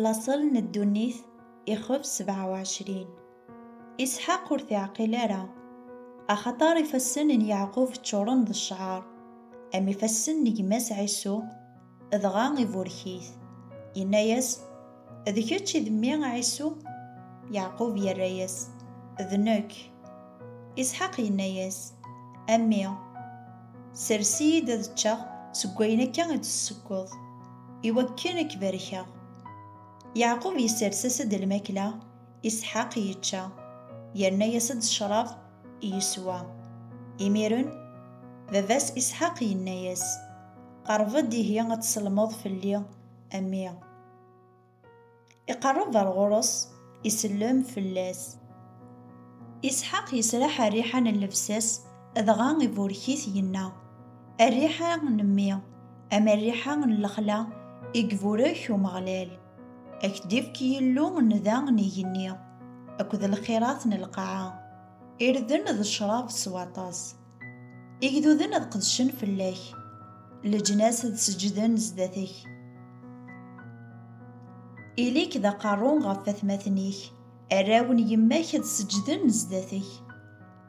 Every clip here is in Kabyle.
Laṣel n ddunit, ixef sebɛa u ɛecrin. Isḥaq ur t-iɛqil ara, axaṭer ifassen n Yeɛqub ččuren d ccɛer, am ifassen n gma-s Ɛisu, dɣa iburek-it, yenna-yas, D kečč i d mmi Ɛisu? Yeɛqub yerra-yas, D nekk. Isḥaq yenna-yas, A mmi! Sers-iyi-d ad ččeɣ seg wayen akka i d-tessekkeḍ, iwakken a k-barkeɣ. Yeɛqub isers-as-d lmakla, Isḥaq yečča, yerna-yas-d ccṛab, yeswa. Imiren, baba-s Isḥaq yenna-yas, Qerreb-d ihi ad tselmeḍ fell-i, a mmi! Iqerreb ar ɣur-s, isellem fell-as. Isḥaq yesraḥ rriḥa n llebsa-s, dɣa iburek-it, yenna, A rriḥa n mmi, ama rriḥa n lexla i iburek Umeɣlal, a k-d-ifk Yillu n da n igenni akked lxirat n lqaɛa irden d ccrab s waṭas. Igduden ad qedcen fell-ak, leǧnas ad seǧǧden zdat-k. Ili-k d aqerru ɣef watmaten-ik, arraw n yemma-k ad seǧǧden zdat-k.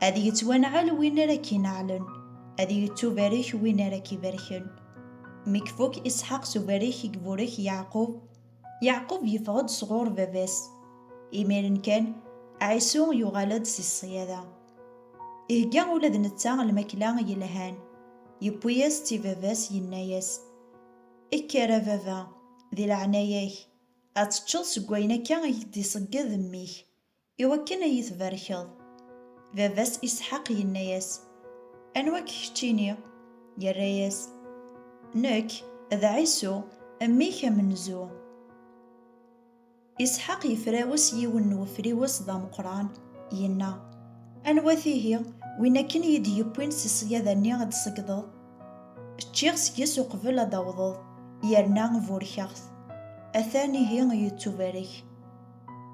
Ad yettwanɛel win ara k-ineɛlen, ad yettubarek win ara k-ibarken. Mi ifuk Isḥaq s ubarek i iburek Yeɛqub, Yeɛqub yeffeɣ-d sɣur baba-s. Imiren kan, Ɛisu yuɣal-d si ṣṣyada. Ihegga ula d netta lmakla yelhan, yewwi-as-tt i baba-s yenna-as, Kker a baba, di leɛnaya-k, ad teččeḍ seg wayen akka i k-d-iṣegged mmi-k, i wakken a yi-tbarkeḍ. Baba-s Isḥaq yenna-as, Anwa-k keččini? Yerra-as, Nekk, d Ɛisu, mmi-k amenzu. Isḥaq yefrawes yiwen n wefriwes d ameqqran, yenna, Anwa-t ihi, win akken iyi-d-yewwin si ṣṣyada-nni ad d-tṣeggdeḍ? Ččiɣ seg-s uqbel ad d-awḍeḍ, yerna burkeɣ-t. Atan ihi yettubarek.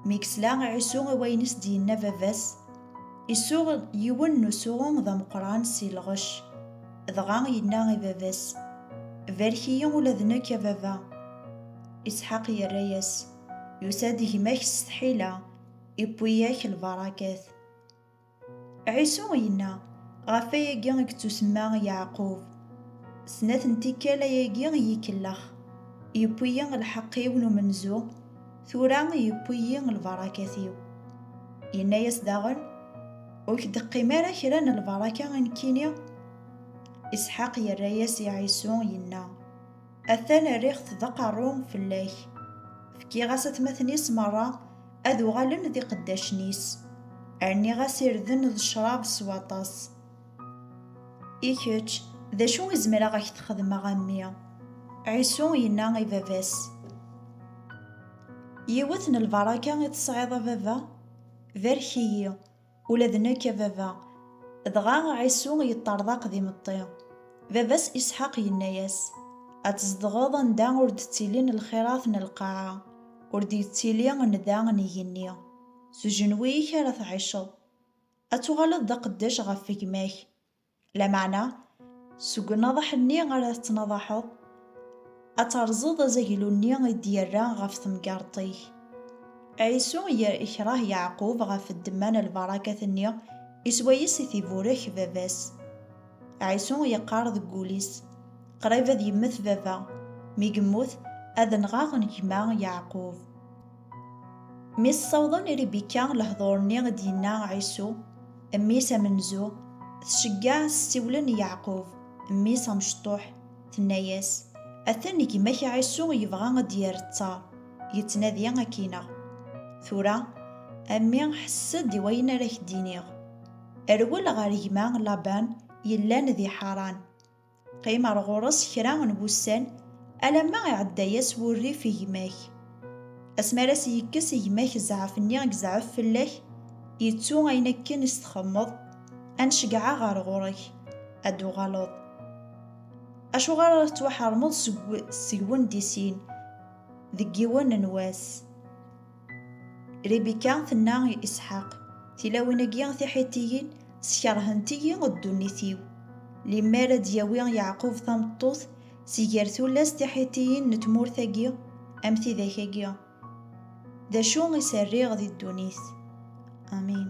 Mi yesla Ɛisu i wayen i s-d-yenna baba-s, isuɣ yiwen n usuɣu d ameqqran si lɣec, dɣa yenna i baba-s, Barek-iyi ula d nekk, a baba! Isḥaq yerra-yas, Yusa-d gma-k s tḥila, iwwi-yak lbarakat. Ɛisu yenna, Ɣef wayagi i yettusemma Yeɛqub. Snat n tikkal ayagi i yi-kellex, yewwi-yi lḥeqq-iw n umenzu, tura yewwi-yi lbarakat-iw. Yenna-yas daɣen, Ur k-d-teqqim ara kra n lbaraka i nekkini? Isḥaq yerra-yas i Ɛisu, yenna, Atan rriɣ-t d aqerru fell-ak. Fkiɣ-as atmaten-is merra ad uɣalen d iqeddacen-is. Rniɣ-as irden d ccrab s waṭas. I kečč, d acu i zemreɣ ak t-xedmeɣ a mmi? Ɛisu yenna i baba-s. Yiwet n lbaraka i tesɛiḍ a baba? Barek-iyi. Ula d nekk, a baba. Dɣa Ɛisu yeṭṭerḍaq d imeṭṭi. Baba-s Isḥaq yenna-yas, Ad tzedɣeḍ anda ur d-ttilin lxirat n lqaɛa, ur d-yettili nnda n igenni. S ujenwi-ik ara tɛiceḍ. Ad tuɣaleḍ d aqeddac ɣef gma-k. Lameɛna, seg unaḍaḥ-nni ara tettnaḍaḥeḍ, ad terẓeḍ azaglu-nni i d-yerra ɣef temgerḍt-ik. Ɛisu yekṛeh Yeɛqub ɣef ddemma n lbarakat-nni i swayes i t-iburek baba-s. Ɛisu yeqqar deg wul-is, Qrib ad yemmet baba, mi yemmut, ad nɣeɣ gma Yeɛqub. Mi s-sawḍen i Ribika lehdur-nni i d-yenna Ɛisu, mmi-s amenzu, tceggeɛ s ssiwlen n Yeɛqub, mmi-s amecṭuḥ, tenna-yas, Atan gma-k Ɛisu yebɣa ad d-yerr ttaṛ, yettnadi ad k-ineɣ. Tura, a mmi, ḥess-d i wayen ara k-d-iniɣ. Rwel ɣer gma Laban yellan di Ḥaṛan. Qqim ar ɣur-s kra n wussan alamma iɛedda-yas wurrif i gma-k. Asmi ara s-yekkes i gma-k zzɛaf-nni i yezɛef fell-ak, yettu ayen akken i s-txemmeḍ, ad n-ceggɛeɣ ɣer ɣur-k, ad d-tuɣaleḍ. Acuɣer ara tettwaḥermeḍ seg-wen di sin, deg yiwen n wass? Ribika tenna i Isḥaq, Tilawin-agi tiḥitiyin skerhent-iyi ddunit-iw. Limmer ad d-yawi Yeɛqub tameṭṭut si ger tullas tiḥitiyin n tmurt-agi am tidak-agi, d acu i s-rriɣ di ddunit? Amin.